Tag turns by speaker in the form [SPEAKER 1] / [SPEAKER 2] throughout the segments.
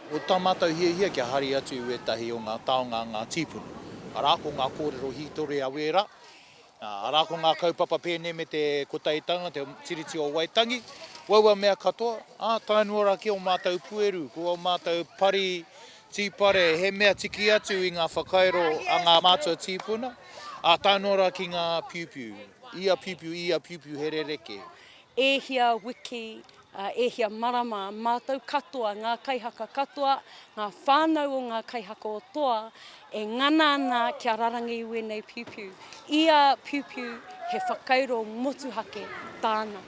[SPEAKER 1] Ko tā mātou hiahia kia haere atu i wētahi o ngā taonga a ngā tīpuna, arā, ko ngā kōrero hītori a Wēra, arā, ko ngā kaupapa pēnei me te Kotaitanga, te Tiriti o Waitangi, waua mea katoa, ā, tae noa rā ki ō mātou pueru, ko ō mātou pari Tīpare, he mea tiki atu i ngā whakairo a ngā mātua tīpuna, ā, tae noa rā ki ngā piupiu. Ia piupiu, ia piupiu, he rerekē. E hia wiki, e hia marama, mātou katoa, ngā kaihaka katoa, ngā whānau o ngā kaihaka o Toa, e ngana ana kia rarangi i wēnei piupiu. Ia piupiu, he whakairo motuhake tāna.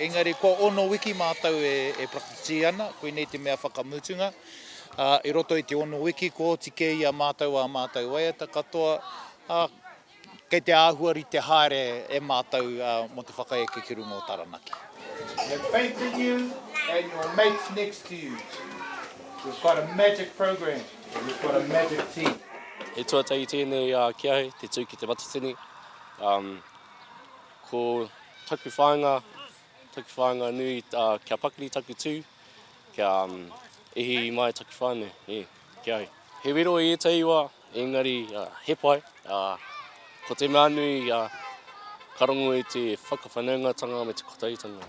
[SPEAKER 1] Engari kua ono wiki mātou e prakitisi ana, koinei te mea whakamutunga. Ā, i roto i te ono wiki kua oti kē i a mātou ā mātou waiata katoa, ā, kei te āhua rite haere e mātou mō te whakaeke ki runga o Taranaki. Have faith in you and your mates next to you. We've got a magic program and we've got a magic team. He tuatahi tēnei ki ahau, te tū ki te matatini. Ko taku whāinga, taku whāinga nui kia pakari taku tū, kia ihi mai taku whānau, e, ki ahau. He wero i ētahi wā, engari he pai. Ko te mea nui, ka rongo i te whakawhanaungatanga me te kotautanga.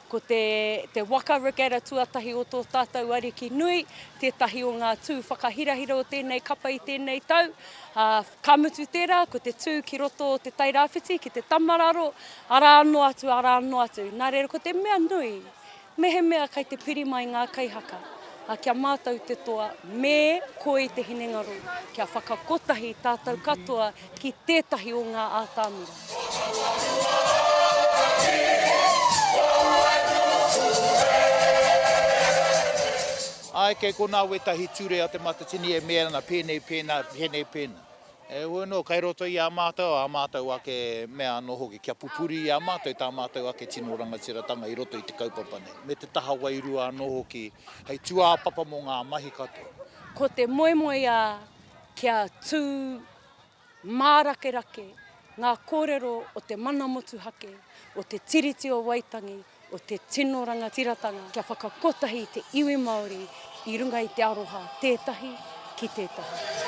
[SPEAKER 1] Ko te, te waka regatta tuatahi o tō tātou Ariki nui, tētahi o ngā tū whakahirahira o tēnei kapa i tēnei tau, ā, ka mutu tērā, ko te tū ki roto o Te Tai Rāwhiti, ki te Tamararo, arā anō atu, arā anō atu. Nā reira, ko te mea nui, mehemea kei te piri mai ngā kaihaka, ā, kia mātau te toa, me koi te hinengaro, kia whakakotahi tātou katoa ki tētahi o ngā ātamira. Āe, kei konā wētahi ture a te matatini e mea ana pēnei, pēnā, pēnei, pēnā. Heoi anō, kei roto i a mātou ā mātou ake mea anō hoki kia pupuri i a mātou tā mātou ake tino rangatiratanga i roto i te kaupapa nei, me te taha wairua anō hoki hei tūāpapa mō ngā mahi katoa. Ko te moemoeā kia tū mārakerake ngā kōrero o te mana motuhake, o te Tiriti o Waitangi, o te tino rangatiratanga, kia whakakotahi te iwi Māori i runga i te aroha tētahi ki tētahi.